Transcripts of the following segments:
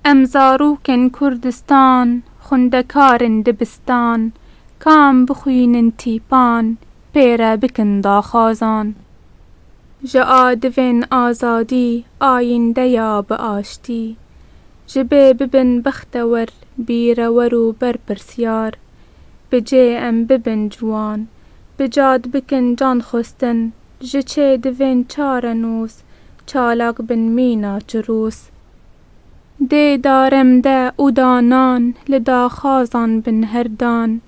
Em zarokên Kurdistan xwendekar in dibistan ka em bixwînin tîpan pêre bikin daxwazan ji a divên azadî ayînde ya bi aştî ji bê bibin bextewer bîrewer û berpirsyar bi cê em bibin ciwan bi cad bikin can xwestin Ji çê divên çare nûs. Çalak bin mîna çirûs. Dê darem de û da nan. Li daxwazan bin her dan.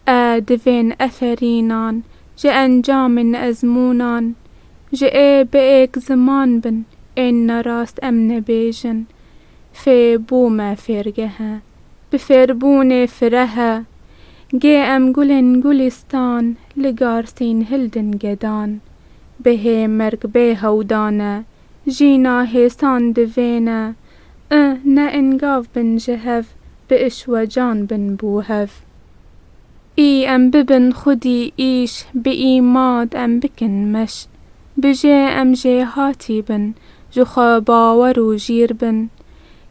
E divên eferînan. Ji encamên ezmûnan. Ji ê bi êk ziman bin. Ên nerast em nebêjin. Fê bûme fêrgehe. Bi fêrbûnê firehe gê em gulên gulîstan li garsîn hildin gedan bêhê merg bê hewdane jîna hêsan divêne i ne ingav bin ji hev bi işwecan bin bû hev î em bibin xwedî îş bi î mad em bikin meş bijê em jêhatî bin ji xwe bawer û jîr bin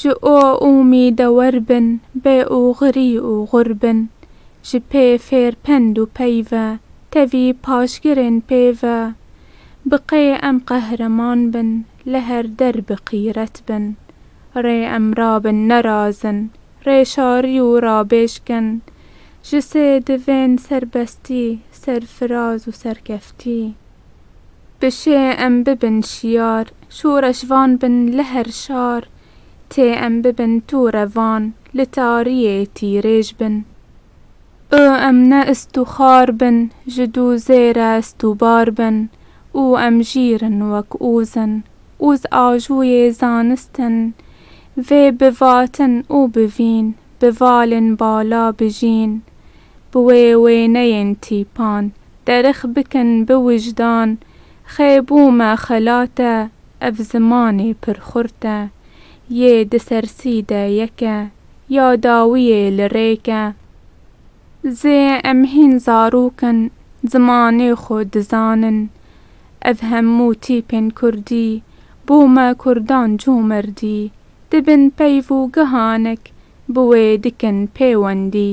Ji o umîde wer bin bê û xirî û xur bin. Ji pê fêr pend û pey ve tevî paşgirên pê ve. Bi qê em qehreman bin li her der bi qîret bin. Rê em rabin nerazin rê şarî û rabêj kin. Ji sê divên serbestî, serfiraz û serkeftî. Bi şê em bibin şiyar. Şoreş van bin li her şar. Tê em bibin tu revan. Li tariyê tîrêj bin. Û em ne ist û xar bin. Ji dû zê re ist û bar bin. Û em jîr in wek ûz in. Ûz ajûyê zanist in. Vê bivatin û bivîn. Bivalên bala bijîn. Bi wê wêneyên tîpan derix bikin bi wijdan Xê bû me xelat e ev zimanê pir xurt e Yê di sersî de yek e ya dawiyê li rêk e Zê em hîn zarok in zimanê xwe dizanin Ev hemû tîpên kurdî bû me kurdan comerdî di bin peyv û gihanek bi wê dikin pêwendî.